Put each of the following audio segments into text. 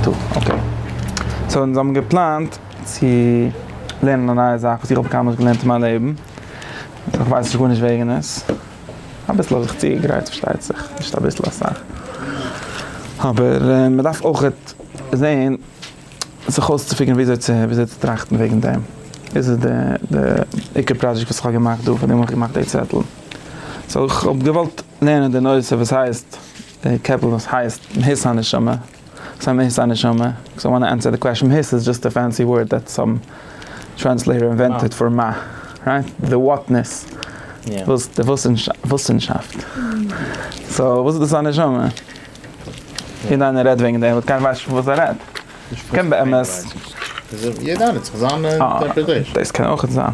טא, אקעי. סאו אונז האבן געפלאנט צו לערנען א נייע זאך וואס איך האב קיינמאל נישט געלערנט אין מיין לעבן. איך ווייס נישט גארנישט וועגן עס. אביסל האב איך צוגעגרייט פארשטייט זיך, נישט אביסל, אסאך. אבער מען דארף אויכעט זעהן זיך אויסצופיגערן וויאזוי צו וויאזוי צו טראכטן וועגן דעם. דאס איז די די עיקר פראדזשעקט וואס איך האב געמאכט דא, פארדעם האב איך געמאכט די צעטל. סאו איך האב געוואלט לערנען די נושא וואס הייסט, די קעפל וואס הייסט מהות הנשמה. סא מען היסט א נשמה? קאוז איי וואנט טו ענסער די קוועשאן, היסט איז דזשאסט א פענסי ווארד דעט סאם טרענסלעיטער אינווענטעד פאר מה, רייט? די וואטנעס, וואס די וואוסענשאפט, סא וואס איז דאס א נשמה? יעדע איינער רעדט וועגן דעם באט קיינער ווייסט נישט פון וואס ער רעדט, קען באמת. יעדע איינער האט זיך זיין אינטערפרעטעישאן. דאס קען אויכעט זיין.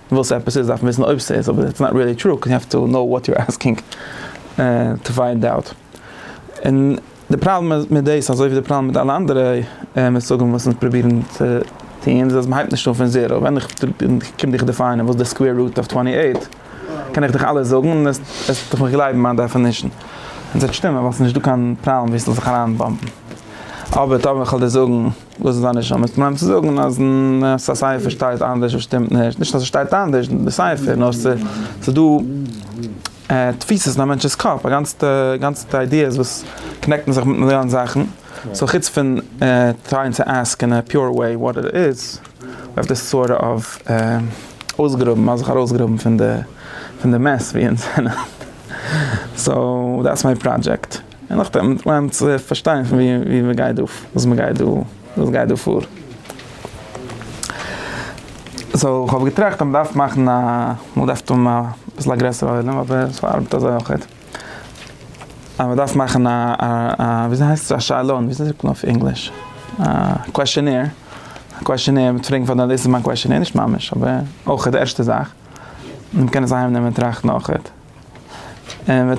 וואס עפעס איז דארף מען וויסן אויב ס'איז אבער איטס נאט ריעלי טרו קאוז יו העוו טו קנאו וואט יו עסקינג טו פיינד אוט און די פראבלעם איז מיט דאס אזוי ווי די פראבלעם מיט אלע אנדערע מושגים וואס אונז פרובירן צו טון איז אז מ'הייבט נישט אן פון זירא ווען איך קום דיך דעפיינען וואס איז די סקווער רוט אויף טווענטי עיט קען איך דיך אלעס זאגן און עסטעך מיך גלייבן מיין דעפענישן און ס'וועט שטימען ווייל ס'איז נישטא קיין פראבלעם ווי ס'זאל זיך אריינבאמבן אבער טאמער איך וועל דיר זאגן. דאס איז דיין נשמה איז פראבלעם צו זאגן אז סייפער שטייט אנדערש וואס שטימט נישט, נישט אז עס שטייט אנדערש די סייפער נאר ס'איז דא תפיסות אין א מענטש'ס קאפ א גאנצע גאנצע איידיעס וואס קאנעקטן זיך מיט מיליאן זאכן סאו חוץ פון טרייען צו עסק אין א פיור וועי וואט איט איז ווי אויף די סארט אוו אויסגראבן מ'האט זיך ארויסגראבן פון די מעס ווי אונז זענען סאו דעטס מיי פראדזשעקט. און נאכדעם וועט מען לערנען צו פארשטיין פון וואו מען גייט דא, וואס מען גייט דא, וואס גייט דא פאר. סאו איך האב געטראכט אז מען דארף מאכן א, מען דארף האבן אביסל א גרעסערע עולם, אבער עס ארבעט אזוי אויך. אז מען דארף מאכן א, וויאזוי הייסט עס, א שאלון, וויאזוי זאגט מען אויף ענגליש, א קוועשענעיר, א קוועשענעיר מיט פראגן פאר די, דאס איז מיין קוועשענעיר, נישט ממש, אבער אויך די ערשטע זאך, און מען קען עס אהיימנעמען און טראכטן אויך. און מיר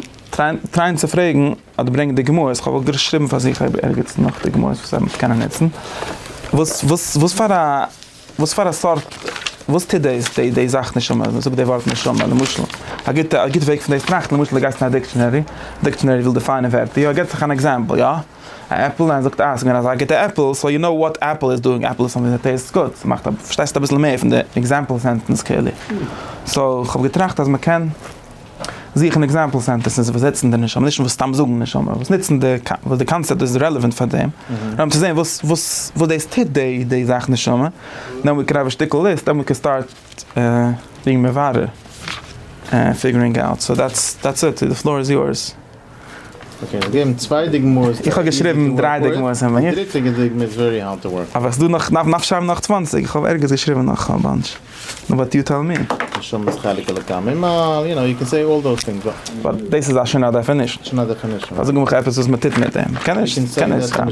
טרייען צו פרעגן אדער ברענגען די גמרות, איך האב געשריבן פאר זיך אויב ערגעץ נאך די גמרות וואס ער וועט קענען נוצן, וואס וואס וואס פאר א וואס פאר א סארט, וואס טוט די די זאך נשמה, מען זאגט די ווארט נשמה למשל, א גוטע א גוטע וועג פון דאס טראכטן למשל די גייסט אין א דיקשענערי, דיקשענערי וויל דעפיינען ווערטער, יא ער געבט זיך אן עקזעמפל יא. א עפל און ער זאגט אה עס איז געווען אזא גוטע עפל סאו יו נאו וואט עפל איז דואינג עפל איז סאמטינג דעט טעיסטס גוד ס'מאכט א פארשטייסט אביסל מער פון די עקזעמפל סענטענס כאילו סאו איך האב געטראכט אז מ'קען זוכן עקזעמפל סענטענסעס וואס זעצן די נשמה נישט וואס סתם זאגן נשמה וואס נוצן די וואס די קאנצעפט איז רעלעווענט פאר דעם נאר צו זען וואס וואס וואס דאס טוט די די זאך נשמה דען ווי קען האב א שטיקל ליסט דען ווי קען סטארט דינג מברר און פיגערינג אוט סאו דעטס דעטס איט די פלאר איז יורס. איך האב געשריבן דריי דוגמאות אין מהות. אבער ס'דא נאך נאך שרייבן נאך צוואנציג, איך האב ערגעץ געשריבן נאך א באנטש. באט יו טעל מי. באט דאס איז שוין א דעפענישן. זאג מיך עפעס וואס מ'טוט מיט דעם. כ'קען נישט. כ'קען נישט סתם.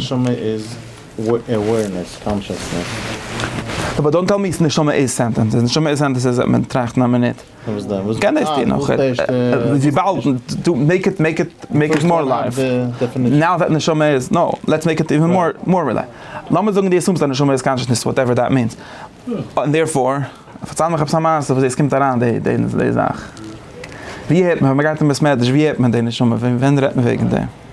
באט דאנט טעל מי נשמה איז סענטענס. נשמה איז סענטענס איז מען טראכט אין א מינוט. וואס דען? וואס קען דאס טון? וויבאלד דו מעיק איט מעיק איט מעיק איט מאר לייוו. נאו דעט נשמה איז נאו לעטס מעיק איט איווען מאר מאר רעלע. לאמיר זאגן דו אסומסט אז נשמה איז קאנשעסנעס וואטעווער דעט מיענס. און דערפאר, פארצייל מיך עפעס א מעשה וואו דאס קומט אריין די די זאך. ווי הערט מען ווען מ'גייט אין בית מדרש ווי הערט מען די נשמה? ווען רעדט מען וועגן דעם?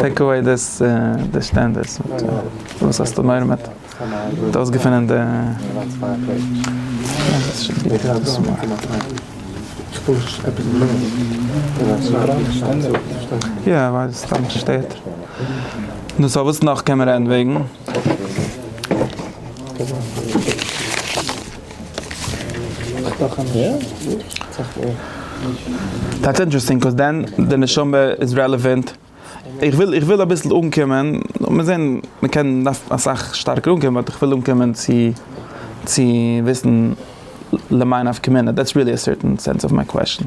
טעיק אוועי די שטענדערס, וואס האסטו מורא מיט? האט אויסגעפונען די יא ווייל סתם שטערט. נו סאו וואס נאך קען מען רעדן וועגן? דעטס אינטערעסטינג קאוז דען די נשמה איז רעלעווענט, איך וויל איך וויל אביסל אנקומען, מיר זעהן מען קען דארף אסאך שטארקער אנקומען באט איך וויל אנקומען צו צו וויסן למאי נפקא מינה דעטס ריעלי א סערטען סענס אוו מיי קוועסטשען.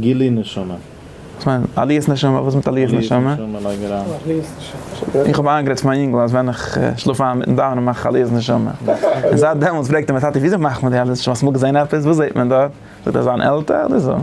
גילוי נשמה. וואס מיינט עליית נשמה? וואס מיט עליית נשמה? איך האב איינגערעדט צו מיין יונגל אז ווען איך שלאף איין מיטן דאווענען מאך איך עליית נשמה. און זייט דעמאלטס פרעגט ער מיר טאטי וויאזוי מאכט מען די עליית נשמה? האסט אמאל געזען עפעס? וואס זעט מען דארט? זאגט ער זיין עלטער אדער זון.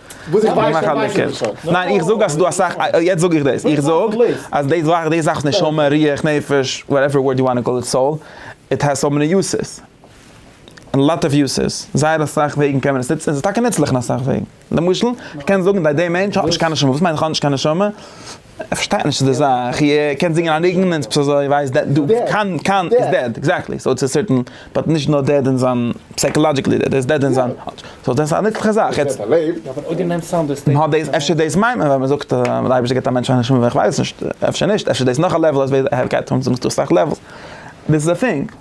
וואס איך ווייס איך ווייס עס נישט. ניין איך זאג אז ס'איז דא אסאך, יעצט זאג איך דאס, איך זאג אז די זאך, די זאך נשמה, רוח, נפש, וואטעווער ווארד יו וואנט טו קאל איט, סאול, איט העז סאו מעני יוסעס, א לאט אוו יוסעס, זייער אסאך וועגן קען מען עס נוצן, און ס'איז טאקע נוצליך אין אסאך וועגן, למשל, כ'קען זאגן אז די מענטש האט נישט קיין נשמה, וואס מיינט איך האב נישט קיין נשמה? ער פארשטייט נישט די זאך, ער קען זינגען א ניגון און עס איז אזוי ווייסט דעט דו קאן קאן איז דעד, עקזעקטלי, סאו צו סערטען באט נישט נאר דעד אין זיין פסייקאלאדזשיקלי דעד ער איז דעד אין זיין סאו דאס איז א נוצליכע זאך יעצט. אהא דאס אפשר דאס מיינט מען ווען מען זאגט אז דער אייבערשטער געבט א מענטש א נשמה, איך ווייס נישט אפשר נישט אפשר איז דאס נאך א לעוול אז ווער ער גייט אן זאגסטו אסאך לעוולס דאס איז א טינג.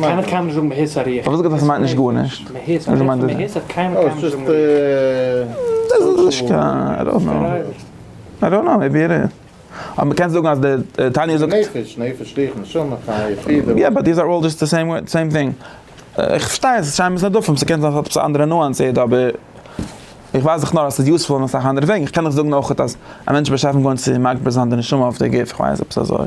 קיינער קיין נישט זאגן מהות הריח. איך האב עס געזאגט אז ס'מיינט נישט גארנישט. מהות הריח און מהות האט קיינער קיין נישט זאגן ריח. דאס איז נישט קיין, איי דאנט נאו. איי דאנט נאו, מעיבי איט איז. אבער מ'קען זאגן אז דער תניא זאגט. נפש, נפש ריח נשמה חיה פידער. יא באט דיז אר אלל דזשאסט די סעים ווארד, סעים טינג. איך פארשטיי אז ס'שיינער ביז נדפים, ס'קען זיין עפעס א אנדערע נואנס איט אבער איך ווייס דאך נאר אז ס'איז יוזפול אין אסאך אנדערע וועגן. איך קען דאך זאגן אויכעט אז א מענטש איז בשעת'ן גורם צו מגביר זיין די נשמה אויף די גוף, איך ווייס, עפעס אזוי.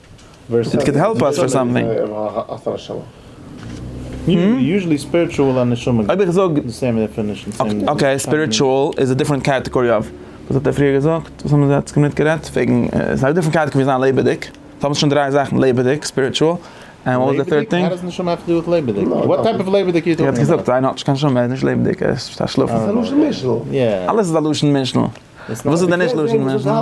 איט קען העלפ אס פאר סאמטינג. אויב איך זאג אקעי ספיריטואל איז א דיפרענט קעטעגארי אוו וואס האט ער פריער געזאגט? וואס האבן זיי יעצט קומען מיטגערעדט וועגן ס'איז א דיפרענט קעטעגארי ווי זיין לעבעדיג סאו האבן זיך שוין דרײַ זאכן לעבעדיג ספיריטואל ענד וואט איז די טירט טינג? ער האט געזאגט איינער האט נישט קיין נשמה ער איז נישט לעבעדיג ער איז פשוט א שלאף. ס'איז א לשון משנה. אלעס איז א לשון משנה. וואס איז דען נישט לשון משנה?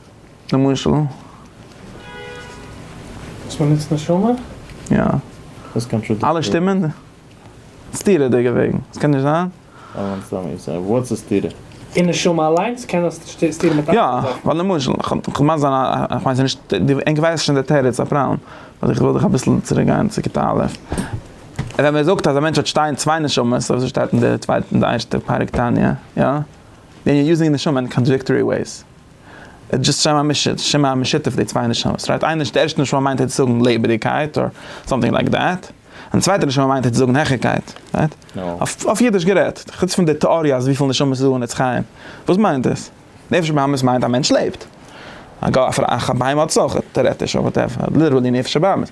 למשל. וואס מען נוצט נשמה? יא. דאס קען פשוט. אלע שטימען? סתירה'דיגע וועגן. עס קען נישט זיין? וואס איז סתירה? און נשמה אליינס קען דאס נישט סתירה מיט אנדערע זאכן. יא. ווייל למשל, כ'מיין זיין א, כ'מיין ס'איז נישט, ענק ווייסן שוין די תירוץ א פראבלעם. אבער איך וויל דיך אביסל צוריק גיין צו כיתה א'. ווען מען זאגט אז א מענטש האט שתיי צוויי נשמות, אזוי שטייט אין די צווייטע, אין די ערשטע פרק תניא, יא? ווען יו אר יוזינג נשמה אין קאנטראדיקטארי וועיס. איז דזשאסט שם המשותף, שם המשותף די צוויי נשמות, רייט? איין נש, די ערשטע נשמה מיינט היצט זאגן לעבעדיקייט אר סאמטינג לייק דעט, און די צווייטע נשמה מיינט היצט זאגן העכערקייט, רייט? אויף אויף אידיש גערעדט, חוץ פון די טעאריע אז וויפיל נשמות איז דא אין עץ חיים, וואס מיינט דאס? נפש הבהמית מיינט א מענטש לעבט. א ג א פ א א בהמה האט עס אויך, טערעטיש אר וואטעווער, ליטערלי נפש הבהמית.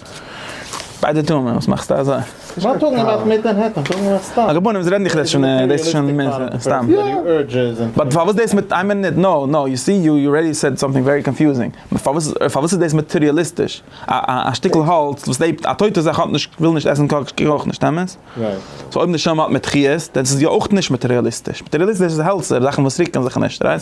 ביידע טוען וואס מאכסטו אזוי? ווייל טאג און נאכט מיט מנהטן, טאג און נאכט סתם. א געבונעם זיי רעדן דיך רעדסט שוין דאס איז שוין מער סתם. באט פארוואס דאס מיט איין מינוט נאו נאו יו סי יו יו רעדי סעד סאמטינג ווערי קאנפיוזינג פארוואס פארוואס איז דאס מאטעריאליסטיש א שטיקל האלץ וואס לעבט א טויטע זאך האט נישט וויל נישט עסן קאק קען אויך נישט אמת? סאו אויב נשמה האט מיט חיות דען איז עס יא אויך נישט מאטעריאליסטיש מאטעריאליסטיש איז העלצער זאכן וואס רוקן זיך נישט רייט?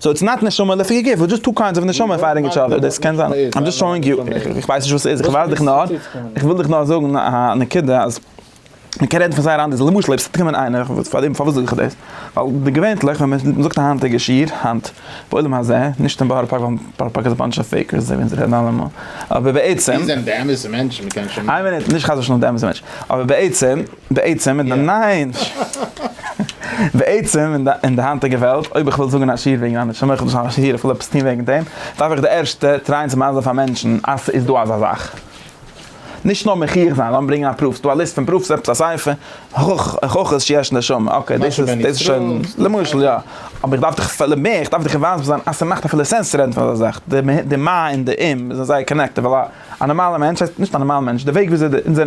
סאו איטס נאט נשמה לפי גוף, איטס דזשאסט טו קיינדס אוו נשמה פייטינג איטש אדער, דאס קען זיין, איים דזשאסט שאואינג יו, איך ווייס נישט וואס ס'איז, איך ווייז דיך נאר, איך וויל דיך נאר זאגן א נקודה אז מען קען רעדן פון זייער אנדערע, למשל אויב ס'וועט קומען איינער, פארדעם פארוואס זאג איך דאס, ווייל די געווענטליך ווען מען זאגט א היינטיגע שיעור, היינט, בעולם הזה, נישט אין בארא פארק ווייל בארא פארק איז א באנטש אוו פעיקערס אזוי ווי אונז רעדן אלעמאל, אבער בעצם, איין מינוט, נישט חס ושלום די אמת'ע מענטש, אבער בעצם, בעצם אין די ניין. בעצם אין די היינטיגע וועלט אויב איך וויל זאגן א שיעור וועגן א נשמה איך האב נישט א שיעור איך וויל עפעס טון וועגן דעם דארף איך די ערשטע טרייען צו מסביר פאר מענטשן אז ס'איז דא אזא זאך. נישט נאר מחי' זיין לאמיר ברענגען א פראף. ס'דא א ליסט פון פראף'ס עפעס א ספר הוכחות שיש נשמה אקעי דאס איז דאס איז שוין למשל יא אבער איך דארף דיך פלעין מער איך דארף דיך מסביר זיין אז ס'מאכט אפילו סענס צו רעדן פון אזא זאך די מה און די אם זענען זייער קאנעקטעד ווייל א נארמאלע מענטש נישט א נארמאלע מענטש די וועג וויאזוי אונזער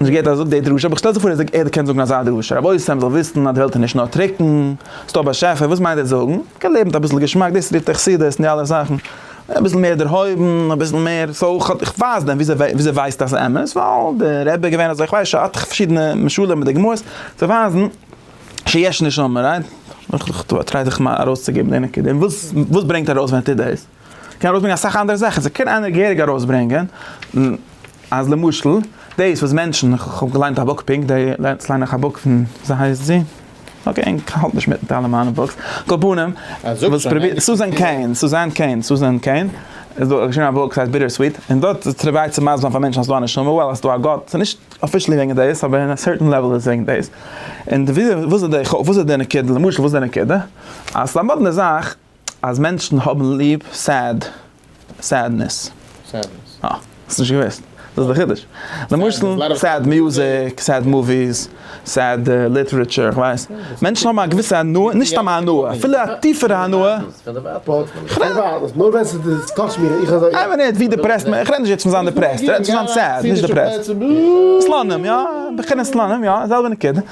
נישט געהערט אז ער זאגט די דרשה, אבער איך שטעל זיך פאר אז ער קען זאגן אזא דרשה, רבותי ם זאל וויסן אז די וועלט איז נישט נאר טרוקן, ס'איז דא באשעפער, וואס מיינט ער זאגן? מ'קען לעבן מיט אביסל געשמאק, דאס רופט ער חסידות און די אלע זאכן, אביסל מער דערהויבן, אביסל מער סאו איך האב, איך ווייס דען וויאזוי וויאזוי ווייסט אז ס'אמת? ווייל די רבי איז געווען אזוי, איך ווייס ש א פארשידענע משלים מיט די גמרות צו ווייזן שיש נשמה, רייט? איך טריי זיך ארויסצוגעבן די נקודה, און וואס וואס ברענגט ארויס ווען ער טוט דאס? קען ארויסברענגען אסאך אנדערע זאכן, זיי קען איינער געהעריג ארויסברענגען אז למשל דאס וואס מענטשן, כ'האב געליינט א בוק פונקט דעי, יעצט ליין איך א בוק פון וויאזוי הייסט זי? אקעי ענק האלט נישט מיט מיט אלע מיינע בוקס, על כל פנים, וואס פרובירט, סוזען קעין, סוזען קעין, סוזען קעין, איז דא געשריבן א בוק ס'הייסט ביטער סוויט, און דארט איז פרובירט צו מסביר זיין פאר מענטשן אז ס'דא א נשמה, וועל אז ס'דא א גאט, ס'איז נישט אפישעלי וועגן דאס אבער אין א סערטען לעוועל איז וועגן דאס, און וויאזוי, וואס איז די, וואס איז די נקודה, למשל וואס איז די נקודה, אז ס'איז א מאדנע זאך. אז מענטשן האבן ליב סעד, סעדנעס. סעדנעס. אה. האסט נישט געוואוסט? דאס איז די חידוש. למשל, סעד מוזיק, סעד מאוויס, סעד ליטערעטשור, כ'ווייס. מענטשן האבן א געוויסע הנאה, נישט סתם א הנאה, אפילו א טיפערע הנאה. כ'רעד. נאר ווען ס'איז טאטש מיר, איך אזוי. איי מינוט, ווי דעפרעסט מען, כ'רעד נישט יעצט פון זיין דעפרעסט, כ'רעד פון זיין סעד, נישט דעפרעסט. סלאנים, יא, בחינת סלאנים, יא, זעלבע נקודה.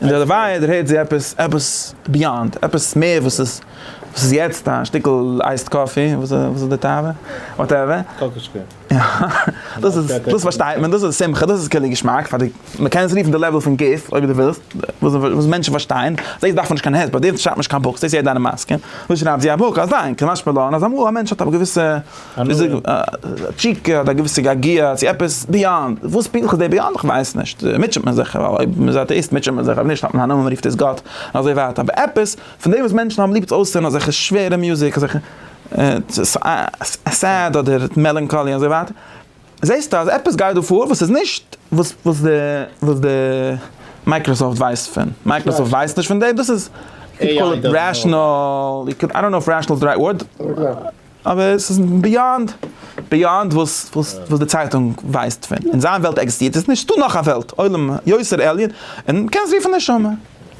און דערווייל דערהערט זי עפעס, עפעס ביאנד, עפעס מער וואס איז, וואס איז יעצט א שטיקל אייסד קאפי, וואס איז די תאווה? וואטעווער. קאקאשקע. יא, דאס איז, דאס פארשטייט מען, דאס איז שמחה, דאס איז כולי געשמאק פאר די, מ'קען עס רופן די לעוועל פון גוף, אויב דו ווילסט, וואס, וואס מענטשן פארשטייען, דאס דארף מען נישט קיין העט, ביי דיר שרייבט מען נישט קיין בוקס, דאס איז יעדער אן א מעסקע, דא שרייבט זי א בוק, א זיין, כמשמע לן אז אמאל א מענטש האט א געוויסע איז ער א תשוקה אדער א געוויסע געגוע צו עפעס ביאנד, וואס פונקטליך איז דער ביאנד איך ווייס נישט, מוטשעט מען זיך, ווייל אויב מ'איז אטעאיסט מוטשעט מען זיך, אויב נישט האט מען א נאמען מ'רופט עס גאט, און אזוי ווייטער, אבער עפעס פון דעם וואס מענטשן האבן ליב צו אויסהערן אזעלכע שווערע מוזיק, אזעלכע סעד אדער מעלאנקאלי אזוי ווייטער, זעסטו אז עפעס גייט דא פאר וואס איז נישט וואס וואס די וואס די מייקראסאפט ווייסט פון, מייקראסאפט ווייסט נישט פון דעם, דאס איז, יו קאל איט רעשאנעל, איי דאנט נאו איף רעשאנעל איז די רייט ווארד. אבער עס איז ביאנד ביאנד וואס וואס די צייטונג ווייסט פון, אין זיין וועלט עקזעסטירט עס נישט, ס'דא נאך א וועלט, עולם יוצר עליון, און מען קען עס רופן נשמה,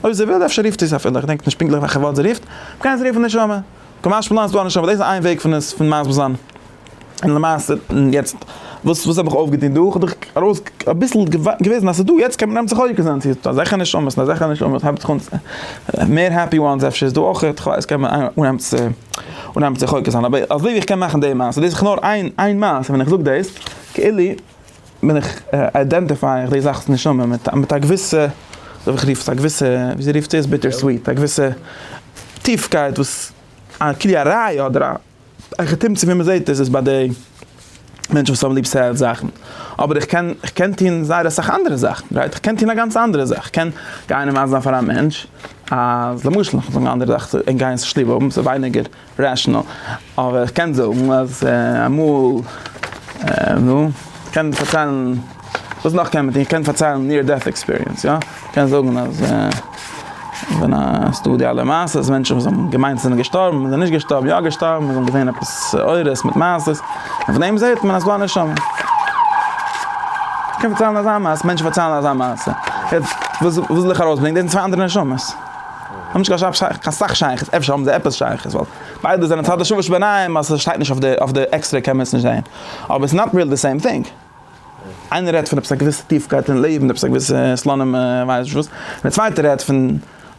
אויב זי וויל, אפשר רופט זי עס אפילו, איך דענק נישט פונקטליך וועלכע ווארט זי רופט, מען קען עס רופן נשמה, כמשמע לן איז דא א נשמה, דאס איז איין וועג פון עס פון מסביר זיין, און למעשה יעצט. וואס וואס האב איך אויפגעטון דא? כ'האב דאך ארויס אביסל געוויזן אז ס'איז דא, יעצט קען מען נעמען זיך אויך אזאנס, ס'איז דא אזעלכע נשמות און אזעלכע נשמות, הייבט זיך אן צו, מער העפי וואנס אפשר איז דא אויך, כ'ווייס קען מען אנהייבן צו אנהייבן צו חוקר זיין, אבער אזוי ווי איך קען מאכן די מעשה, דאס איז נאר איין איין מעשה, ווען איך זאג דאס, כאילו בין איך איידענטיפיי איך די זאכ'ס נשמה מיט מיט א געוויסע, וויאזוי זאל איך רופן עס, א געוויסע, וויאזוי רופט זי עס, ביטער סוויט, א געוויסע טיפקייט וואס א כלי א ראיה אדער א. איך תמצית ווי מען זעט עס איז ביי די מענטשן וואס האבן ליב סעלס זאכן, אבער איך קען איך קען טון זייער אסאך אנדערע זאכן, רייט? איך קען טון א גאנץ אנדערע זאך, איך קען גיין און ווייזן פאר א מענטש אז למשל איך וועל זאגן א אנדערע זאך צו גיין אין שטוב האבן ס'איז ווייניגער רעשענעל, אבער איך קען זאגן אז אמאל נו, איך קען פארציילן. וואס נאך קען מען טון? איך קען פארציילן ניר דעט עקספיריענס יא? איך קען זאגן אז ווען עס דא די אלע מעשות מענטשן וואס האבן געמיינט זענען געשטארבן און זענען נישט געשטארבן יא געשטארבן און זענען געזעהן עפעס אורות מיט מעשות און פון דעם זעהט מען אז ס'דא א נשמה. איך קען פארציילן אזא מעשה, מענטשן פארציילן אזא מעשה. יעצט וואס וויל איך ארויסברענגען? דאס זענען צוויי אנדערע נשמות. האבן נישט קיין שייכות, קיין סאך שייכות, אפשר האבן זיי עפעס שייכות ווייל ביידע זענען צד השוה שבעניים אז ס'שטייט נישט אויף די עקסטרעי קען מען עס נישט זעהן אבער ס'נאט ריעלי די סעים טינג. איינער רעדט פון עפעס א געוויסע טיפקייט אין לעבן, עפעס א געוויסע סלאנים כ'ווייס נישט וואס, און דער צווייטער רעדט פון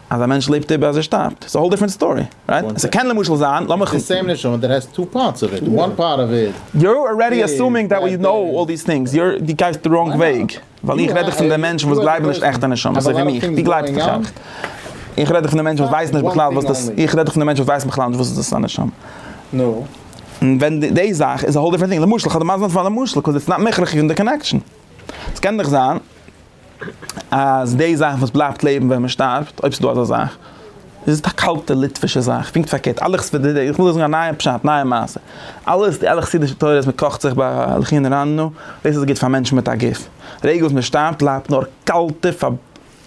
אז א מענטש לעבט איבער אז ער שטארבט, ס'איז א האול דיפרענט סטארי, רייט? עס קען למשל זיין, לאמיך. איטס די סעים נשמה, דער האסט טו פארטס אוו איט, וואן פארט אוו איט. יור ארעדי אסומינג דעט ווי קנאו אלל דיס טינגס, יור, דו גייסט די ראנג וועג, ווייל איך רעד דאך פון די מענטשן וואס גלייבן נישט עכטע נשמות, אזוי ווי מיך, דו גלייבסט דאך עכט. איך רעד דאך פון די מענטשן וואס ווייסן נישט בכלל וואס דאס, איך רעד דאך פון די מענטשן וואס ווייסן בכלל נישט וואס איז דאס א נשמה. נו. ווען די זאך איז א האול דיפרענט טינג, למשל איך האב דערמאנט נאר פאר א משל קאוז איטס נאט מכרח אין די קאנעקשאן, עס קען דאך זיין אז די זאך וואס בלייבט לעבן ווען מען שטארבט, אויב ס'איז דא אזא זאך, איז א קאלטע ליטווישע זאך, פונקט פארקערט, אלע חסידישע, איך וויל דא זאגן א נייע פשט, נייע מעשה, אלע אלע חסידישע תורות מען קאכט זיך ביי לחי נרננו, דאס איז גוט פאר מענטשן מיט א גוף, די רגע וואס מען שטארבט בלייבט נאר קאלטע פאר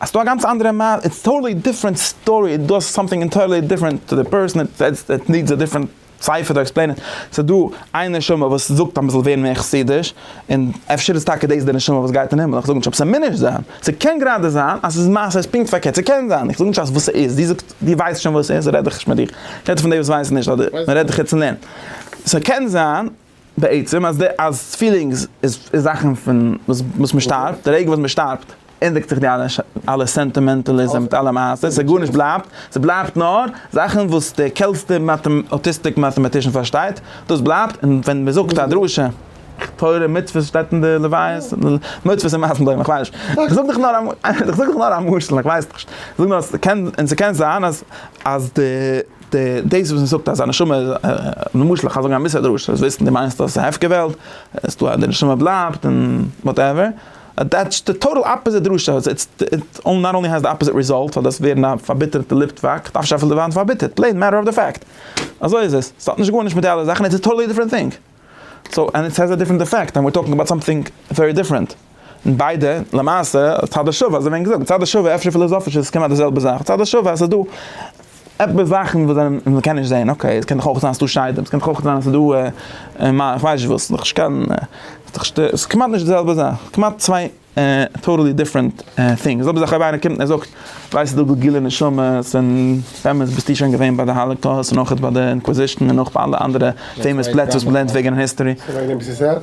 האסטו א גאנץ אנדערע מעלה, איטס טאטעלי דיפרענט סטארי, איט דאס סאמטינג אינטערלי דיפרענט טו די פערסאן, איט נידס א דיפרענט ספר טו עקספלעין איט, סאיז דא איין נשמה וואס זאגט אז מזאל ווערן מער חסידיש, און אפשר איז טאקע דאס די נשמה וואס גייט אין הימל, איך זאג נישט אבער ס'מינער זיין, ס'קען גראדע זיין אז ס'איז מעשה איז פונקט פארקערט, ס'קען זיין, איך זאג נישט אז וואס ס'איז, דו זאגסט דו ווייסט שוין וואס ס'איז רעד איך נישט מיט דיר, איך רעד פון די וואס ווייסן נישט אדער מ'רעדט דיך יעצט אין לערנען, ס'קען זיין. בעצם אז די אז פילינגס איז איז זאכן פון וואס וואס מען שטארבט, די רגע וואס מען שטארבט ענדיגט זיך די אלע אלע סענטימענטעליזם מיט אלע מעשה, ס'איז גארנישט בלייבט, ס'בלייבט נאר זאכן וואס די קעלטסטע אוטיסטיק מאטעמאטישן פארשטייט, דאס בלייבט, און ווען מען זאגט א דרשה, תורה מצוות שטייט אין די לוויות, מצוות און מייזן בוים, איך ווייס נישט, איך זאג דאך נאר איך זאג דאך נאר א משל, איך ווייס נישט, איך זאג נאר אז ס'קען און ס'קען זיין אז אז די. דאס וואס מ'זאגט אז א נשמה איז למשל איך גיי זאגן א מיסע דרשה זאלסט וויסן די מיינסט אז ס'איז א הפקר וועלט אז דא די נשמה בלייבט און וואטעווער דעטס די טאטאל אפעזיט דרשה און נאט אנלי האסט די אפעזיט ריזאלט פאר דאס ווערן א פארביטערטע ליטוואק דארפסטו אפילו ווערן פארביטערט פלעין מעטער אוו די פעקט אזוי איז עס ס'האט נישט גארנישט מיט די אלע זאכן איטס א טאטאלי דיפרענט טינג. סאו ענד איט העז א דיפרענט עפעקט ענד וויר טאלקינג אבאוט סאמטינג ווערי דיפרענט און ביידע למעשה צד השווה אזוי ווען געזאגט צד השווה אפשר פילאזאפיש איז עס כמעט די זעלבע זאך צד השווה אז עס איז דא עפעס זאכן וואס זענען וואס מען קען נישט זעהן אקעי עס קען דאך אויך זיין אז עס איז דא שדים עס קען דאך אויך זיין אז עס איז דא איך ווייס נישט וואס ס'איז דאך נישט קיין ס'איז דאך נישט קיין ס'איז כמעט נישט די זעלבע זאך כמעט צוויי טאטעלי דיפרענט טינג, ס'איז אויב איינער קומט און זאגט, ווייסט ס'איז דא גאר גילע נשמות, און באמת ביסטו שוין געווען ביי די האלעקאוסט און אויך ביי די אינקוויזישן און אויך ביי אלע אנדערע פעימאס פלעצער וואס מ'לערנט וועגען היסטארי. ס'איז וועגען דעם ביסטו סעד?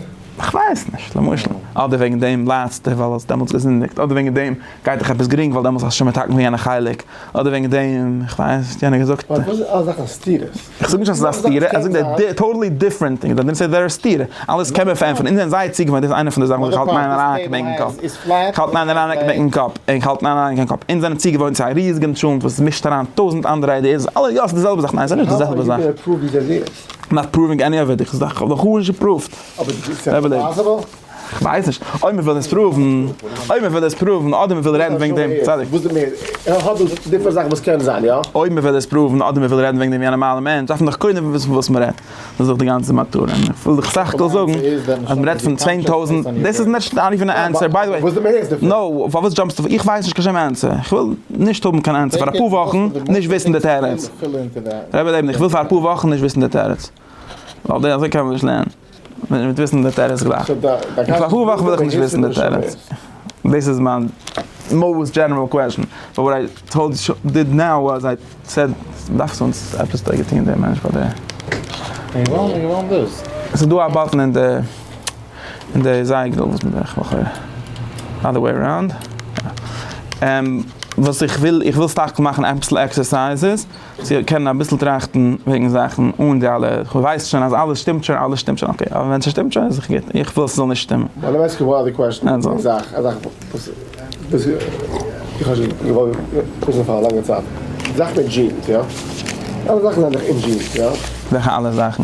כ'ווייס נישט, למשל. אדער וועגען דעם ליידסטו ווייל האסט דעמאלטס געזינדיגט, אדער וועגען דעם גייט דיך עפעס גרינג ווייל דעמאלטס האסטו שוין מתקן געווען יענע חלק, אדער וועגען דעם, כ'ווייס נישט, יענער האט געזאגט. אבער וואס איז אלע זאכן סתירות? איך זאג נישט אז עס איז א סתירה, איך זאג דער די טאטעלי דיפרענט טינג, דער דימ סעט דער איז סתירה, אלעס קען מען פארענטפערן, אונז זענען זייער צוגעוואוינט, דאס איז איינע פון די זאכן וואס איך האלט ניין אריין קיין בענקען קאפ, איך האלט ניין אריין קיין בענקען קאפ, איך האלט ניין אריין קיין קאפ, אונז זענען צוגעוואוינט צו א ריזיגען טשולנט וואס מישט אריין טויזענט אנדערע איידיעס, אלע יא עס איז די זעלבע זאך, ניין עס איז נישט די זעלבע זאך. נאט פראווינג עני אוו איט, איך האב דאך גארנישט געפראווט. כ'ווייס נישט, אויב מ'וויל עס פראוון, אויב מ'וויל עס פראוון, אדער מ'וויל רעדן וועגן דעם, צדיק. וואס איז מער? ער האט דאס דיפרענט זאכן וואס קען זיין, יא? אויב מ'וויל עס פראוון, אדער מ'וויל רעדן וועגן דעם ווי א נארמאלער מענטש, דארף מען דאך קודם וויסן פון וואס מ'רעדט. דאס איז דאך די גאנצע מטרה. און איך וויל דיך סך הכל זאגן, אז מ'רעדט פון צוויי טויזנט, דאס איז נישט נאט איווען א ענסער, ביי די וועי. נאו, פארוואס דזשאמפסטו? איך ווייס נישט קיין שום ענסער. איך וויל נישט האבן קיין ענסער פאר אפאר וואכן, נישט וויסן די תירוץ. ר' לעבן, איך וויל פאר אפאר וואכן נישט וויסן די תירוץ. ווייל אזוי קען מען נישט לערנען. וויל נישט וויסן די תירוץ גלייך. און פאר אפאר וואכן וויל איך נישט וויסן די תירוץ. דאס איז מיין מאוסט דזשענעראל קוועשאן. באט וואט איי טאלד ש דיד נאו וואס איי סעד דאכצט אונז עפעס האט ער געטון דער מענטש פאר די. ס'איז דא א באטן אין די אין די זייגער וואס מ'דארף איך לכאורה אדער וועי אראונד. וואס איך וויל איך וויל סך הכל מאכן אביסל עקסערסייזעס. צו קענען אביסל טראכטן וועגן זאכן אן די אלע, כווייס שוין אז אלעס שטימט שוין, אלעס שטימט שוין, אקעי, אבער ווען ס'שטימט שוין איז דאך גוט, איך וויל ס'זאל נישט שטימען. ביי די מעסקער וואלאדער קוועסטשן איז א זאך, א זאך וואס איך האב שוין געוואלט וויסן פאר א לאנגע צייט, די זאך מיט דזשינס, יא? אלע זאכן זענען דאך אין דזשינס, יא? וועלכע אלע זאכן?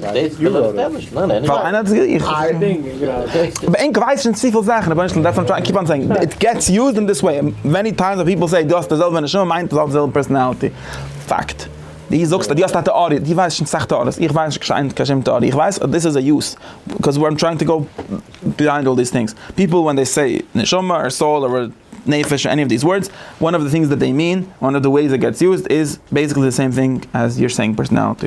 ווייל איינער האט עס געזאגט? איך האב עס געזאגט? אבער ענק ווייסט שוין צופיל זאכן, רבונו של עולם דעטס וואט איים טרייענג טו קיפ אן סעיאינג, איט געטס יוזד אין דיס וועי, מעני טיימס ווען פיפל זעי דו האסט די זעלבע נשמה מיינט עס האט די זעלבע פערסאנאליטי, פאקט, דו זאגסט אז דו האסט א טעאריע, דו ווייסט שוין סאך טעאריעס, איך ווייס נישט קיין שום טעאריע, איך ווייס אז דאס איז א יוז, ביקאוז איים טרייענג טו גאו ביהיינד אלל דיס טינגס, פיפל ווען זיי סעי נשמה אר סאול אר נפש עני אוו דיס ווארדס, וואן אוו די טינגס דעט זיי מין, און אוו די וועיס איט געטס יוזד איז בעיסיקלי די סעים טינג עז יור סעיאינג פערסאנאליטי.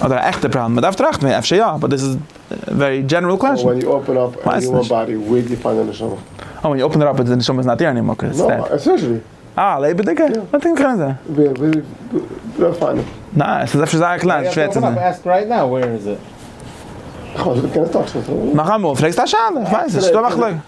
אדער א עכטע פראבלעם? מ'דארף טראכטן וועגן אפשר יא, באט דאס איז ווערי דזשענערל קוועשאן. נאכאמאל, פרעגסט א שאלה, כ'ווייס נישט.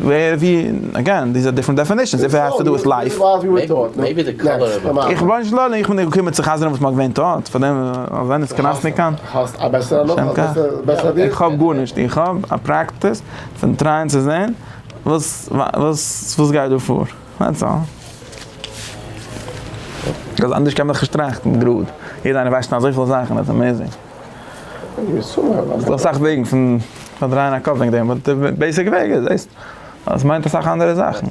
ווער ווי אגעין דיז איז א דיפרענט דעפענישען איף איט העז טו דו וויט לייף. איך בין שלא איך בין נישט געקומען צו חזר'ן וואס מ'האט געווען טאט פאר דעם אז איינער איז קראסניק קיין. איך האב גארנישט איך האב א פרעקטיס פון טרייען צו זעהן וואס וואס גייט דא פאר דעטס אלל. ביז אנדערש קען מען דאך נישט טראכטן גראד יעדע איינער ווייסט שוין אזויפיל זאכן איטס עמעזינג. ס'דא אסאך וועגן פון פארדרייען א קאפ וועגן דעם, באט די בעיסיק וועג איז דאס, אז עס מיינט אסאך אנדערע זאכן.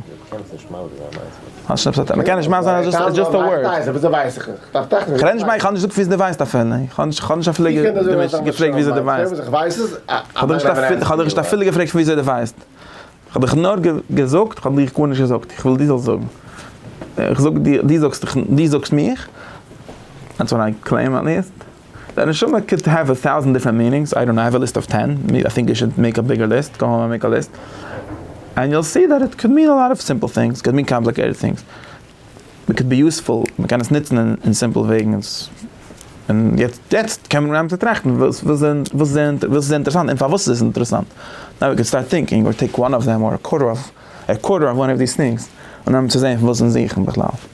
מ'קען נישט מאס זיין אז דאס איז דער ווארט. כ'רעד נישט מיין, כ'האב נישט געזאגט וואס דו ווייסט אפילו, כ'האב נישט אפילו געפרעגט וויאזוי דו ווייסט, כ'האב דיך נישט אפילו געפרעגט פון וויאזוי דו ווייסט, כ'האב דיך נאר געזאגט, כ'האב דיך גארנישט געזאגט, איך וויל דו זאלסט זאגן, איך זאג דיר, דו זאגסט מיך, אנדזשאסט קלעים עט ליעסט. די נשמה קען האוו א טאוזענט דיפרענט מינינגס, איי דאנט נאו, האוו א ליסט אוו טען, איי טינק יו שוד מעיק א ביגער ליסט, גאו האום און מעיק א ליסט, ענד יו וויל סי דעט איט קען מין א לאט אוו סימפל טינגס, קען מין קאמפליקעיטעד טינגס, מען קען בי יוספול, מען קען עס נוצן אין סימפל וועגן, און יעצט קען מען אנהייבן צו טראכטן וואס איז אינטערעסאנט און פארוואס איז עס אינטערעסאנט, נאו ווי קען סטארט טינקינג אר טעיק וואן אוו דעם אר א קווארטער אוו וואן אוו דיס טינגס און אנהייבן צו זעהן פון וואס אונז זוכן בכלל.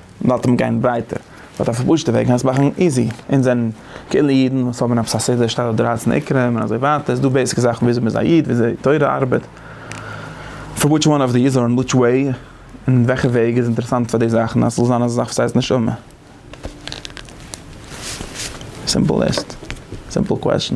מ'לאזט אים גיין ווייטער, מ'האט א פארפאשטע וועג און עס מאכן איזי, אונז זענען כאילו אידן וואס האבן עפעס א סדר שטייט דארט דרייצן עיקרים און אזוי ווייטער, ס'דא בעיסיק זאכן וויאזוי מ'איז א איד, וויאזוי תורה ארבעט, פאר וויטש וואן אוו דיז אר אין וויטש וועי, און וועלכע וועג איז אינטערעסאנט פאר די זאכן אז ס'זאל זיין אזא זאך וואס הייסט נשמה. סימפל ליסט, סימפל קוועסטשן.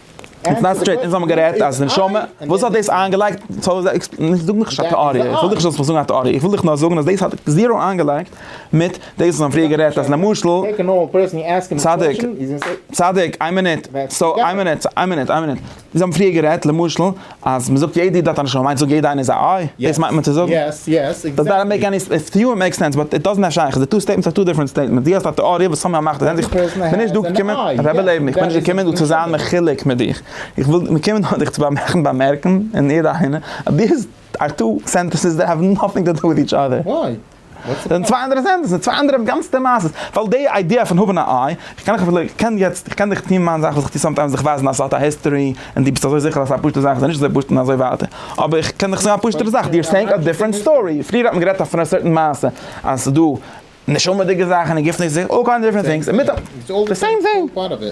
איטס נאט סטרעיט, אונז האבן גערעדט אז נשמה, וואס האט דאס איינגעלייגט, זאג מיך נישט א טעאריע, איך וויל דיך נישט זאלסט מיך זאגן א טעאריע, איך וויל דיך נאר זאגן אז דאס האט זיראו איינגעלייגט מיט דאס וואס מ'האט פריער גערעדט אז למשל, צדיק, צדיק, איין מינוט, סאו איין מינוט, איין מינוט, איין מינוט, זיי האבן פריער גערעדט למשל אז מען זאגט יעדע איד האט א נשמה מיינט זאג יעדע איינער איז א איי? דאס מיינט מען צו זאגן? יעס יעס עקזעקטלי. דאזענט מעיק עני סענס, טו יו איט מעיק סענס באט איט דאזענט האט שייכות, די טו סטעיטמענטס אר טו דיפרענט סטעיטמענטס, דו האסט א טעאריע וואס סאמהאו מאכט זען זיך, כ'בין נישט דא געקומען, רבי לעבן איך בין נישט געקומען דא צו זיין מחולק מיט דיך, איך וויל געקומען דא דיך צו באמערקן באמערקן און יעדע איינער אז דיז אר טו סענטענסעס דעט האוו נאטינג טו דו וויט איטש אדער. דאס זענען צוויי אנדערע סענטענסעס, צוויי אנדערע גאנצעטע מעשה'ס, ווייל די איידיע פון האבן א איי, איך קען דיך, איך קען יעצט, איך קען דיך טון מיין זאך וואס איך טו סאמטיימס, דיך ווייזן אז ס'האט א היסטארי, און דו ביסט אזוי זיכער אז ס'איז א פשוטע זאך, ס'איז נישט אזוי פשוט און אזוי ווייטער, אבער איך קען דיך זאגן א פשוטערע זאך, יו אר סעיאינג א דיפרענט סטארי, פריער האט מען גערעדט אויף א סערטען מעשה, אז ס'איז דא נשמה'דיגע זאכן און גופ'נישט זיכער, אלל קיינד אוו דיפרענט טינגס, און מיט א, די סעים טינג.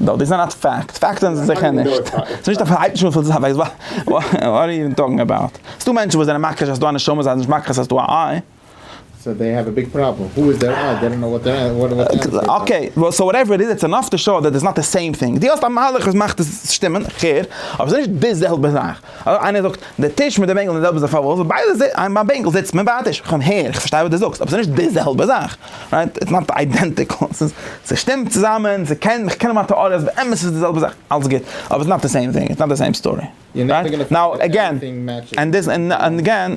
דאָ, דאָס איז אַ נאַט פֿאַקט. פֿאַקטן זענען זיכער נישט. ס'איז נישט אַ פֿאַרהייבט נישט אָפֿן זײַן ווײַס. וואָט אַר יו טאָקינג אַבאַוט? ס'דאָ מענטשן וואָס זענען מכחיש אַז ס'איז דאָ אַ נשמה, זיי זענען נישט מכחיש אַז ס'איז דאָ אַ איי. סאָו דעי העוו אַ ביג פּראָבלעם. הו איז דער איי? דעי דאָנט נאָו וואָט דער וואָט דער ענטפֿער איז. אָקעי, וועל, סאָו וואַטעווער איט איז, איטס ענאָף טו שאָו דעט איטס נאָט די סעים טינג. דו האָסט אַ מהלך וואָס מאַכט עס שטימען, כ'הער, אָבער ס'איז נישט די זעלבע זאַך. אדער איינער זאגט, די טיש מיט די בענקל זענען די זעלבע זאך פארוואס? ווייל ביי די זעלבע ביי בענקל זיצט מען ביי א טיש. כ'קום הער, איך פארשטיי וואס די זאגסט, אבער ס'איז נישט די זעלבע זאך. רייט? איטס נאט איידענטיקל. ס'איז, ס'שטימט צוזאמען, ס'קען, כ'קען האבן א טעאריע אז באמת איז עס די זעלבע זאך, אלס גוט, אבער איטס נאט די סעים טינג, איטס נאט די סעים סטארי. רייט? נאו, עגעין, ענד דיס, ענד עגעין.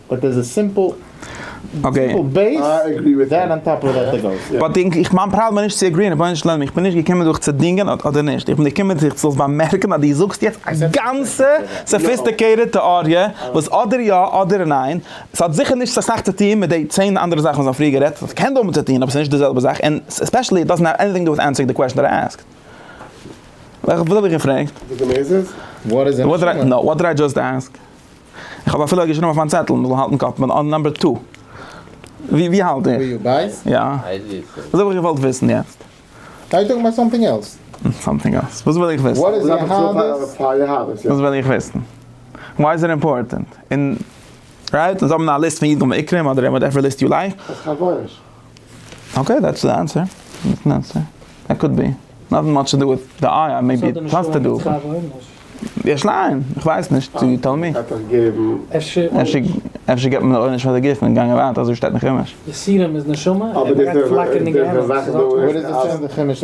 באט דעיס איז סימפל סימפל בעיס דען אן טאפ אוו דעט די גאוסט. באט איך מיין פראבלעם איז נישט צו עגריען רבונו של עולם איך בין נישט געקומען דיך צו דינגען אדער נישט איך בין געקומען דיך זאלסט באמערקן אז די זאגסט יעצט א גאנצע סאפיסטיקעיטעד טעאריע וואס אדער יא אדער ניין ס'האט זיכער נישט אסאך צו טוהן מיט די צען אנדערע זאכן וואס מ'האט פריער גערעדט ס'קען האבן צו טוהן אבער ס'נישט די זעלבע זאך ענד עספעשעלי איט דאזענט העוו עניטינג דו וויט ענסערינג די קוועשן דעט איי עסקד. וואס האב איך געפרעגט? וואט דיד איי דזשאסט עסק? איך האב אפילו געשריבן אויף מיין צעטל מ'זאל האלטן קאפ מיט נאמבער טו. ווי האלט איר? ווי בייס? יא. דאס האב איך געוואלט וויסן יעצט. אר טאלקינג אבאוט סאמטינג עלס? סאמטינג עלס? וואס וויל איך וויסן? וואט איז יהדות? וואס וויל איך וויסן? וויי איז איט אימפארטענט? און רייט? און זיי האבן א ליסט פון אידן ועיקרים אדער וואטעווער ליסט יו לייק. אקעי דעטס די ענסער, דעטס די ענסער, דעט קאוד בי, נאטינג מאטש טו דו וויט די איי איי מעיבי איט האס טו דו וויט די שליין, איך ווייס נישט יו טעל מי, אפשר געט מען עונש פאר די גוף און גאנגען ווייטער אזוי שטייט אין חומש. די סירום איז נשמה און מען גייט פלאקערן אין גיהנום. וואו איז דאס שטייט אין חומש?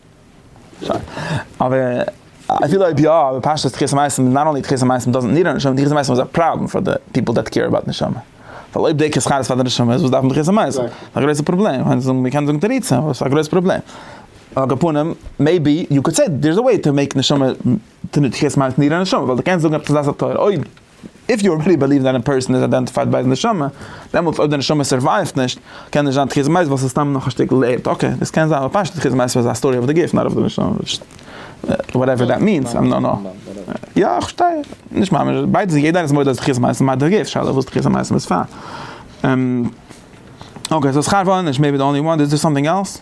אבער אפילו אויב יא, אבער פשטות תחיית המתים איז נאט אנלי תחיית המתים דאזענט ניד א נשמה, תחיית המתים איז א פראבלעם פאר די פיפל דעט קעיר אבאוט נשמה, ווייל אויב דעי כסחר איז פאר די נשמה איז וואס דארף מען תחיית המתים? ס'איז א גרויסע פראבלעם, מען קען זאגן תירוצים אבער ס'איז א גרויסע פראבלעם, על כל פנים מעיבי יו קאלד סעי דער איז א וועי טו מעיק נשמה, תחיית המתים ניד א נשמה, ווייל די קענסט זאגן עפעס א דעת התורה אויב. איף יו אלרעדי בעליוו דעט א פערסאן איז איידענטיפייד ביי היז נשמה, דעמאלטס אויב די נשמה סורווייווט נישט, קען נישט זיין תחיית המתים ווייל ס'איז סתם נאך א שטיקל ערד, אקעי, דאס קען זיין, אבער פשטות תחיית המתים איז א סטארי אויף די גוף, נאט אויף די נשמה, וואטעווער דעט מיענס, איים דאנט נאו. יא, איך פארשטיי, נישט ממש, ביידע זענען, יעדער איז מודה אז תחיית המתים איז מיט די גוף, שאלה וואס תחיית המתים איז פאר. אקעי, סאו שכר ועונש מעי בי די אנלי וואן, איז דער סאמטינג עלס?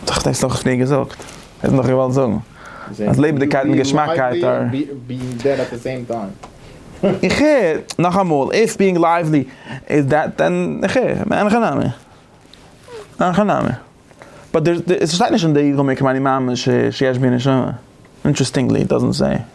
האט דאך דאס דאך פריער געזאגט, ער האט נאך געוואלט זאגן אז לעבעדיגקייט און געשמאקייט אר. איך הער, נאכאמאל, איף ביאינג לייוועלי איז דעט דען איך הער, אין הכי נמי, אין הכי נמי. באט עס שטייט נישט אין די גמ' כמעני מאמין שיש בי נשמה, אינטרעסטינגלי איט דאזענט סעי.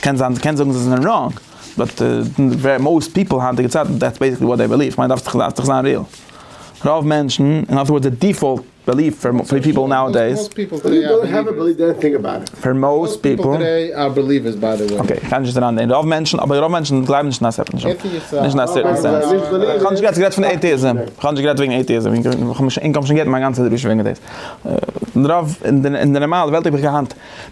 קען זיין קען זאגן זיי זענען ראנג, באט מאוסט פיפל היינטיגע צייטן דעטס בעיסיקלי וואט דעי בעליוו, כ'מיין דארפסט דארף דאך זיין ריעל, רוב מענטשן, און אזויוואו די דיפאלט בעליוו פאר פאר פיפל נאו עדעיס, פאר מאוסט פיפל, אקעי כ'גיי נישט אריין אין רוב מענטשן, אבער רוב מענטשן גלייבן נישט אין א סעפער נישט אין א סערטען סענס, כ'האב נישט גערעדט כ'רעדט פון עיטיזים, כ'האב נישט גערעדט וועגן עיטיזים, און כ'האב שוין גע'ענדיגט מיין גאנצע דרשה וועגן דעיס, רוב אין די נארמאלע וועלט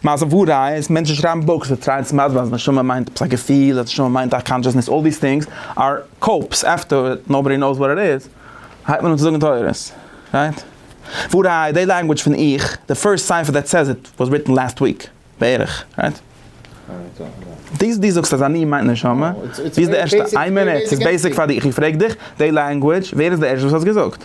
מעשה וואו ראיה איז מענטשן שרייבן בוקס זיי טרייען צו מסביר אז נשמה מיינט עפעס א געפיל אז נשמה מיינט א קאנשעסנעס אלל דיס טינגס אר קאופס עפטער נאובאדי נאוס וואט איט איז הייבט מען אן צו זאגן תורות רייט וואו ראיה די לענגוויטש פון איך די פירסט ספר דעט סעז איט וואס ריטן לעסט וויק בערך רייט די די זאגסט אז אני מיינט נשמה ווי איז די ערשטע איין מינוט ס'איז בעיסיק פאר דיך איך פרעג דיך די לענגוויטש ווער איז די ערשטע וואס האט עס געזאגט.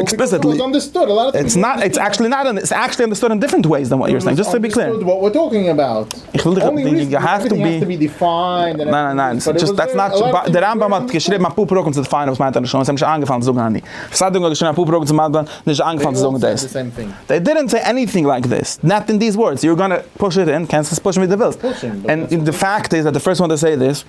עקספליסיטלי, איטס נאט, איטס עקטשעלי נאט, איטס עקטשעלי אנדערסטוד אין דיפרענט וועיס דען וואט יו אר סעיאינג, דזשאסט טו בי קלער. איך וויל דיך ווינקען, יו העוו טו בי, ניין ניין ניין, דזשאסט דעטס נאט, די רמב ם האט געשריבן אפאר פרקים צו דיפיינען וואס מיינט א לשון, עס איז אים נישט איינגעפאלן צו זאגן אני. כסדר האט געשריבן אפאר פרקים צו מיינט א, נישט זיי איינגעפאלן צו זאגן דאס. זיי דידענט סעי עניטינג לייק דאס, נאט אין דיס ווארדס, יו אר גאנע פוש איט אין, קענסט עס פושן ווי דו ווילסט, און די פאקט איז דעט די פירסט וואן טו סעי דאס,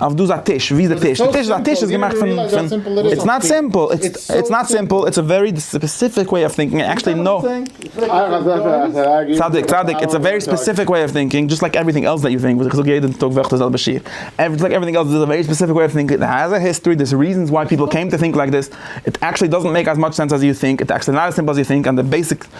אויף דא איז א טיש, ווי איז די טיש? די טיש די טיש איז געמאכט פון פון איטס נאט סימפל איטס נאט סימפל איטס א ווערי ספעסיפיק וועי אוו טינקינג און עקשעלי נא צדיק צדיק איטס א ווערי ספעסיפיק וועי אוו טינקינג דזשאסט לייק עווריטינג עלס דעט יו טינק וואס איך זאג יעדע טאג וועלכע זעלבע שיעור עווריטינג לייק עווריטינג עלס דאס איז א ווערי ספעסיפיק וועי אוו טינקינג איט העז א היסטארי דערס ריזענס וויי פיפל קעם טו טינק לייק דעס איט עקשעלי דאזענט מעיק עז מאטש סענס עז יו טינק איטס עקשעלי נאט עז סימפל עז יו טינק און די בעיסיק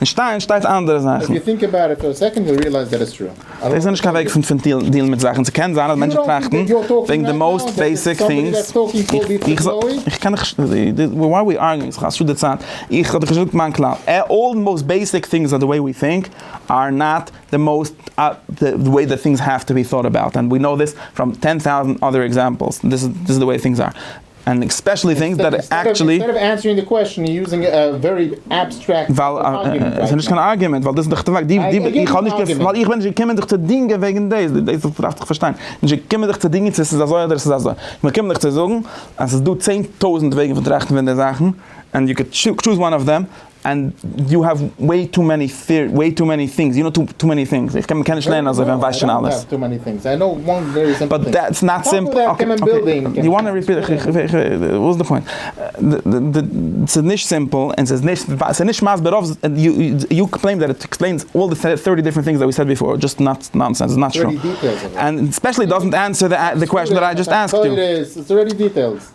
אין שטיין שטייט אנדערע זאכן. דאס איז נישט קיין וועג פון דילן מיט זאכן. ס'קען זיין אז מענטשן טראכטן וועגן די מאוסט בעיסיק טינגס. איך קען נישט, וואי אר ווי ארגינג? ס'איז א שאד די צייט. איך האב דאך נישט געזאגט מיין כלל. אלל די מאוסט בעיסיק טינגס די וועי ווי טינק אר נאט די מאוסט די וועי די טינגס העוו טו בי טאוט אבאוט. ענד ווי נאו דיס פראם טען טאוזענט אדער עקזעמפלס. דיס איז די וועי טינגס אר. ענד עספעשעלי טינגס דעט עקטשעלי. אינסטעד אוו ענסערינג די קוועסטשן און יוזינג א ווערי עבסטרעקט. ווייל עס איז נישט קיין ארגומענט ווייל דאס איז דאך די פאקט. איך האב נישט געפ. ווייל איך בין נישט געקומען זיך צו דינגען וועגן דאס. דאס דארפסט דאך פארשטיין. נישט געקומען זיך צו דינגען צו עס איז אזוי אדער עס איז אזוי. איך בין געקומען דיך צו זאגן אז עס איז דא צען טויזנט וועגן פון טראכטן פון די זאכן ענד יו קען טשוז וואן אוו דעם. ענד יו העוו וועי טו מעני וועי טו מעני טינגס יו נאו טו טו מעני טינגס איך קען מ'קען נישט לערנען אזוי ווען מ'ווייסט שוין אלעס. אויף וואס?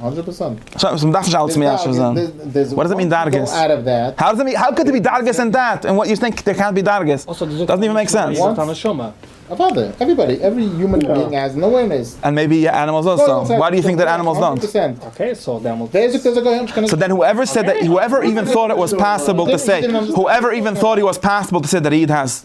הונדרעט פראצענט. סא מען דארף נישט אלץ מיישב זיין? וואט דאס מיען דרגות? האו קען דער בי דרגות אין דעט? און וואט יו טינק דער קענט בי דרגות? דאזענט איווען מעיק סענס. איז דאך א נשמה. אוודאי. עוועריבאדי. עווערי יומען ביאינג האז אן אווערנעס. און מעיבי ענימעלס אויסא. וואי די יו טינק דעט ענימעלס דאנט? אקעי סאו דעמאלטס. ווער זאגט אז א גוי האט נישט קיין נשמה? סא דען הועווער סעד דעט הועווער איווען טאט איט וואס פאסיבל טו סעי הועווער איווען טאט איט וואס פאסיבל טו סעי דעט א איד האז.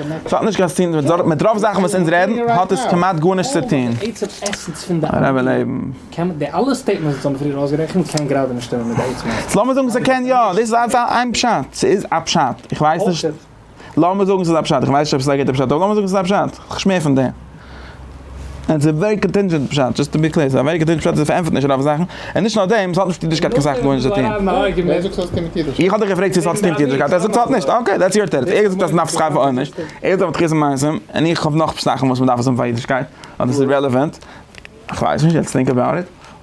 עס האט נישט קיין צוטוהן מיט דארט, מיט רוב זאכן וואס אונז רעדן האט עס כמעט גארנישט צוטוהן. הרב לעבן. לאמיר זאגן ס'קען יא, דאס איז אלס איין פשט, ס'איז א פשט, איך ווייס נישט, לאמיר זאגן ס'איז א פשט, איך ווייס נישט אויב ס'איז א גוטע פשט, אבער לאמיר זאגן ס'איז א פשט, כ'שמער פון דעם. און ס'איז ווערי קאנטינדזשענט פשט, דזשאסט טו בי קלער, ס'איז א ווערי קאנטינדזשענט פשט אז עס פארענטפערט נישט רוב זאכן, און נישט נאר דעם, ס'האט נישט מיט אידישקייט קיין סאך גארנישט צו טון. ווער זאגט ס'האט צו טון מיט אידישקייט? איך האב דיך געפרעגט צו ס'האט צו טון מיט אידישקייט, ער זאגט ס'האט נישט, אקעי, דעטס יור תירוץ, ער זאגט אז ס'נאך שכר פאר עונש, ער זאגט תחית המעשים, און איך האב נאך זאכן וואס מ'דארף עס האבן פאר אידישקייט, אז עס איז רעלעווענט, כ'ווייס נישט, לעטס טינק אבאוט איט.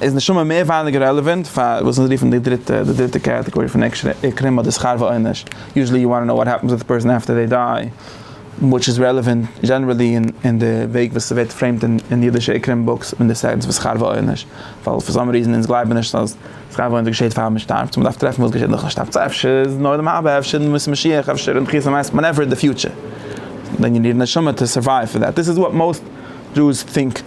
איז נשמה מער ווייניגער רעלעווענט פאר וואס אונז רופן די דריטע די דריטע קעטעגארי פון עקשן און קרימעל די שכר ועונש יוזשעלי יו וואנט טו נאו וואט העפענס וויט א פערסאן עפטער זיי דיי וויטש איז רעלעווענט דזשענערעלי און די וועג וואס ס'ווערט פרעימט און אידישע עקרים בוקס ווען די סענטענס פון שכר ועונש ווייל פאר סאם ריזען אונז גלייבן נישט אז שכר ועונש געשעהט פאר מ'שטארבט סאו מ'דארף טרעפן וואס געשעהט נאכן שטארבן סאו אפשר איז נאר דעם האבער אפשר אין בימת משיח אפשר אין תחיית המתים וואנעווער די פיוטשער דען יו ניד נשמה טו סורווייוו פאר דעט דיס איז וואט מאוסט דזשוס טינק.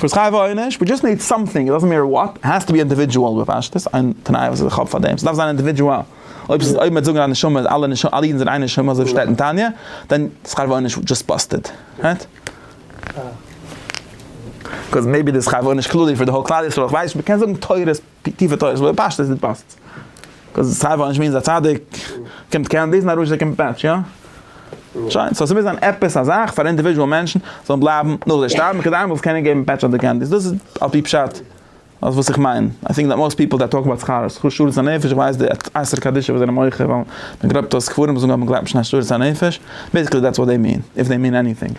וואס חייב אויך נישט, ווי דזשאסט ניד סאמטינג, איט דאזענט מעטער וואט, איט האס טו בי אינדיווידזשועל בפשטות, איין תנאי וואס איך האב פאר דעם, ס'דארף זיין אינדיווידזשועל, אויב ס'איז אויב מ'וועט זאגן אז נשמה איז אלע נשמה אלע אידן זענען איין נשמה אזוי ווי שטייט אין תניא, דען איז חייב אויך נישט דזשאסט באסטעד, רייט? קאוז מעיבי דעיס חייב אויך נישט כללי פאר די האול כלל ישראל, כ'ווייס נישט, מ'קען זאגן תורות. די טיפע תורת לויט פשט איז די פאסט. קאוז סיי וואס נישט מיינט אז א צדיק קומט קענדיס און א רשע קומט פעטש, יא? שוין, סאו ס'מוז זיין עפעס א זאך פאר אינדיווידועל מענטשן זאלן בלייבן נאך די שטארבן כדי איינמאל זאלסט קענען געבן פעטש אדער קענדיס. דאס איז על פי פשט אויף וואס איך מיין. איי טינק דעט מאסט פיפל דעט טאלק אבאוט שכר שכר שארית הנפש, איך ווייס די אייסערע קדישא וואס זענען מוחה ווייל מ'גלייבט אז קברים זאגן אז מ'גלייבט נישט אין א שארית הנפש, בעיסיקלי דעטס וואט דעי מין, איף דעי מין עניטינג.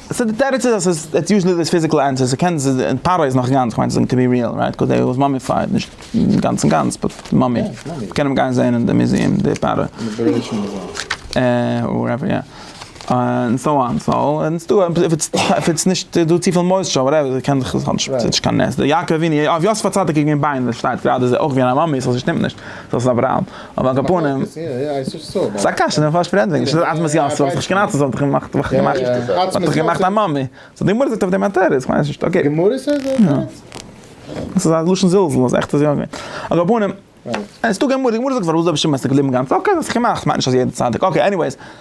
סאו די תירוץ איז אז ס'איז איטס יוזשעלי דעיס פיזיקעל ענטער, ס'קען זיין די פארא איז נאך גאנץ, כ'מיין ס'איז טו בי ריעל רייט קאוז דעי וואס מאמיפייד, נישט גאנץ און גאנץ באט מאמי, מ'קען אים גיין זעהן אין די מוזיעם די פארא, וואטעווער יא, און סאו אן סאו און ס'דא אויב איטס אויב איטס נישט דא צופיל מויסטשער וואטעווער ס'קען זיך עס האט נישט ס'איז נישט קיין נס, די יעקב אבינו, אויף יוסף הצדיק איז געווען ביינער, ס'שטייט גראדע זיי אויך געווען א מאמי, סאו ס'שטימט נישט, סאו ס'איז אברהם. אבער על כל פנים, ס'איז א קשיא, די פארשפרעט זיך נישט, ס'איז אטמעס יא, ס'האט זיך געשנאצלט, ס'האט זיך געמאכט, וואך געמאכט, ס'האט זיך געמאכט א מאמע, סאו די גמרא זאגט אויף דעם א תירוץ, כ'ווייס נישט, אקעי. די גמרא זאגט אויף דעם א תירוץ? יא. ס'איז א לשון זלזול, אז עכט איז יא געווען. על כל פנים, עס איז דא גמרא, די גמרא זאגט פארוואס איז רבי שמעון עס איז געבליבן גאנץ, אקעי, האט זיך געמאכט, כ'מיין נישט אז יעדע צדיק, אקעי, עניוועיס.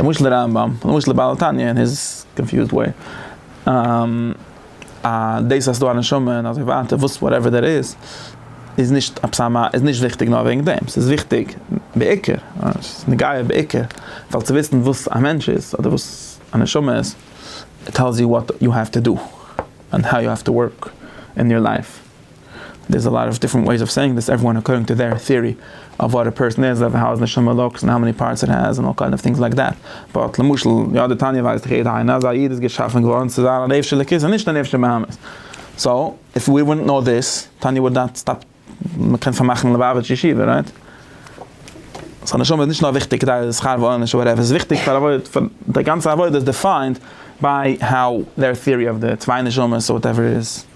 למשל די רמב ם, למשל די בעל התניא אין היז קאנפיוזד וועי, אז דאס אז ס'איז דא א נשמה און אזוי ווייטער, וואס וואטעווער דעט איז, איז נישט עפעס א מ א, איז נישט וויכטיג נאר וועגן דעם, ס'איז וויכטיג בעיקר, ס'איז נוגע בעיקר, ווייל צו וויסן וואס א מענטש איז, אדער וואס א נשמה איז, איט טעלס יו וואט יו העוו טו דא, און האו יו העוו טו ווארק אין יור לייף. דער'ס א לאט אוו דיפרענט וועיס אוו סעיאינג דיס עוועריוואן אקארדינג טו דעיר טעארי אוו וואט א פערסאן איז אוו האו איז נשמה לוקס און האו מעני פארטס איט העז און אלל קיינד אוו טינגס לייק דעט באט למשל יא די תניא ווייזט דאך יעדער איינער אז א איד איז געשאפען געווארען צו זיין א נפש של אלוקית און נישט א נפש של בהמות סאו איף ווי וואודנט נאו דיס תניא וואלט נאט סטאפ מ'קען פארמאכען ליבאוויטש ישיבה רייט? סאו נשמה איז נישט נאר וויכטיג כדי די שכר ועונש אויב עפעס איז וויכטיג פאר עבוד פאר די גאנצע עבודה איז דיפיינד ביי האו דעיר טעארי אוו די צוויי נשמות אויף וואטעווער איז.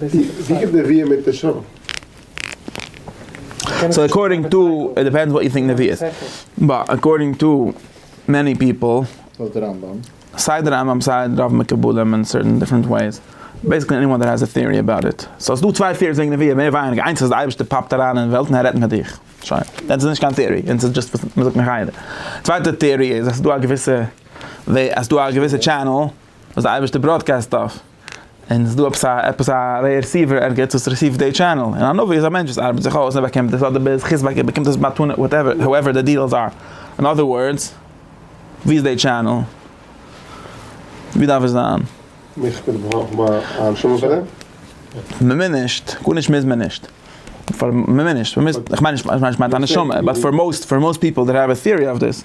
ווי קומט נביאים מיט נשמה? סאו אקארדינג טו, איט דיפענדס וואט יו טינק נביאות, באט אקארדינג טו מעני פיפל, סיי די רמב ם סיי רוב מקובלים אין סערטען דיפרענט וועיס, בעיסיקלי עניוואן דעט העז א טעארי אבאוט איט, סאו ס'איז דא צוויי טעאריס וועגן נביאים מער ווייניגער, איינס אז די אייבערשטער פאפט אריין אין וועלט און ער רעדט מיט דיך, שוין, דען ס'איז נישט קיין טעארי, דען ס'איז דזשאסט וואס מ'זאגט מחיה, די צווייטע טעארי איז אז ס'איז דא א געוויסע וועי, אז ס'איז דא א געוויסע טשענעל. וואס די אייבערשטער בראדקעסט אויף, און עס איז דא עפעס א עפעס א רעסיווער ערגעץ וואס רעסיווט די טשענעל, און א נביא איז א מענטש וואס ארבעט זיך אויס און ער באקומט דאס, אדער ביז חז ו ער באקומט דאס מתנה וואטעווער האועווער די דיעלס אר, אין אדער ווארדס, ווי איז די טשענעל? ווי דארף עס זיין? מיך ביטע ברויך מען א נשמה פאר דעם? מ'מוז נישט, גארנישט מוז מען נישט, פאר מ'מוז נישט, מ'מוז, איך מיין נישט, איך מיין נישט א נשמה, באט פאר מאוסט, פאר מאוסט פיפל דעט העוו א טיערי אויף דיס.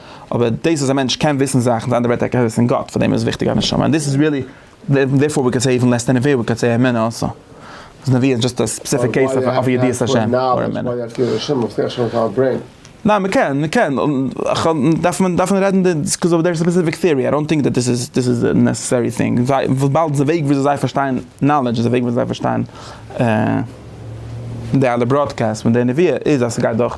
אבער דאס אז א מענטש קען וויסן זאכן איז אנדערע ווערטער ער קען וויסן גאט פאר דעם איז וויכטיג א נשמה און דאס איז ריעלי דערפאר ווי קען סעי איווען לעס דען נביאה ווי קען סעי אמונה אלסא אז נביאה איז דזשאסט א ספעסיפיק קעיס אוו ידיעת השם אר אמונה. ניין מ'קען מ'קען דארף מען דארף מען רעדן די ביזקאוז אוו דער ספעסיפיק טעארי איי דאנט טינק דעט דאס איז דאס איז די נעסעסערי טינג זיי וויבאלד די וועג וויאזוי זיי פארשטיין נאלעדזש איז די וועג וויאזוי זיי פארשטיין די אלע בראדקעסט פון די נביאה איז אז ס'גייט דורך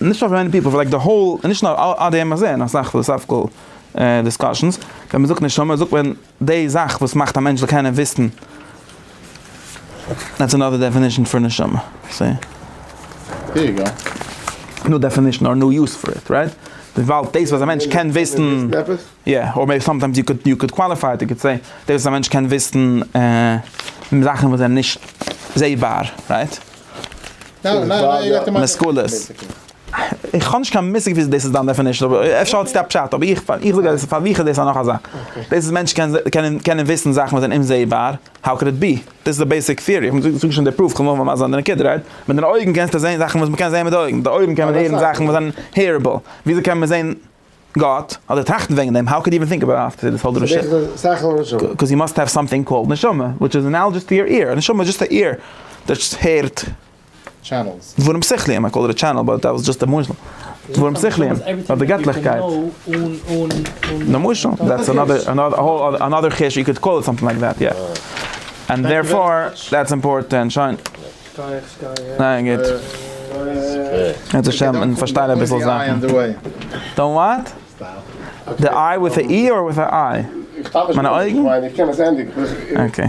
נישט פאר מעני פיפל, פאר לייק די האול, נישט נאר אט די עמעזען, אסאך פילאסאפיקעל דיסקאשענס, ווען מען זאגט נשמה זאגט מען די זאך וואס מאכט א מענטש זאל קענען וויסן, דעטס אנאדער דעפינישן פאר נשמה, סי? ניו דעפינישן אר ניו יוז פאר איט, רייט? וויבאלד דאס וואס א מענטש קען וויסן, יא, אר מעיבי סאמטיימס יו קוד יו קוד קוואליפיי איט, יו קוד סעי, דאס וואס א מענטש קען וויסן זאכן וואס זענען נישט זעבאר, רייט? משכולות. איך האב נישט קיין מושג וויאזוי דאס איז דיין דעפענישן אבער אפשר האט עס א פשט אבער איך איך זאג אז פאר מיך איז דאס א נאך א זאך. דאס איז מענטשן קענען קענען קענען וויסן זאכן וואס זענען אומזעהבאר האו קען איט בי? דאס איז די בעיסיק טיערי איך זאג נישט די פרוף כ'וועל נאר מסביר זיין די נקודה רייט? מיט דיינע אויגן קענסטו זעהן זאכן וואס מ'קען זעהן מיט די אויגן די אויגן קען מען הערן זאכן וואס זענען הערעבל וויאזוי קען מען זעהן גאט, אדער טראכטן וועגן דעם, האו קאוד יו עווען טינק אבאוט עפטער דיס האול דרשה? קאוז יו מאסט האוו סאמטינג קאלד נשמה, וויטש איז אנאלאדזש טו יור עיר, א נשמה איז דזשאסט א עיר דאס הערט דברים שכליים, איי קאלד איט א טשענעל באט דעט וואס דזשאסט א משל, דברים שכליים, אויף די געטליכקייט, למשל, דעטס אנאדער חידוש, יו קאוד קאל איט סאמטינג לייק דעט, יא, אנד דערפאר דעטס אימפארטענט, שוין. ניין גוט. קענסט נישט שטעלן און פארשטיין אביסל זאכן. דאנט וואט? די איי וויט א אי אר וויט א איי? מיינע אויגן? אקעי.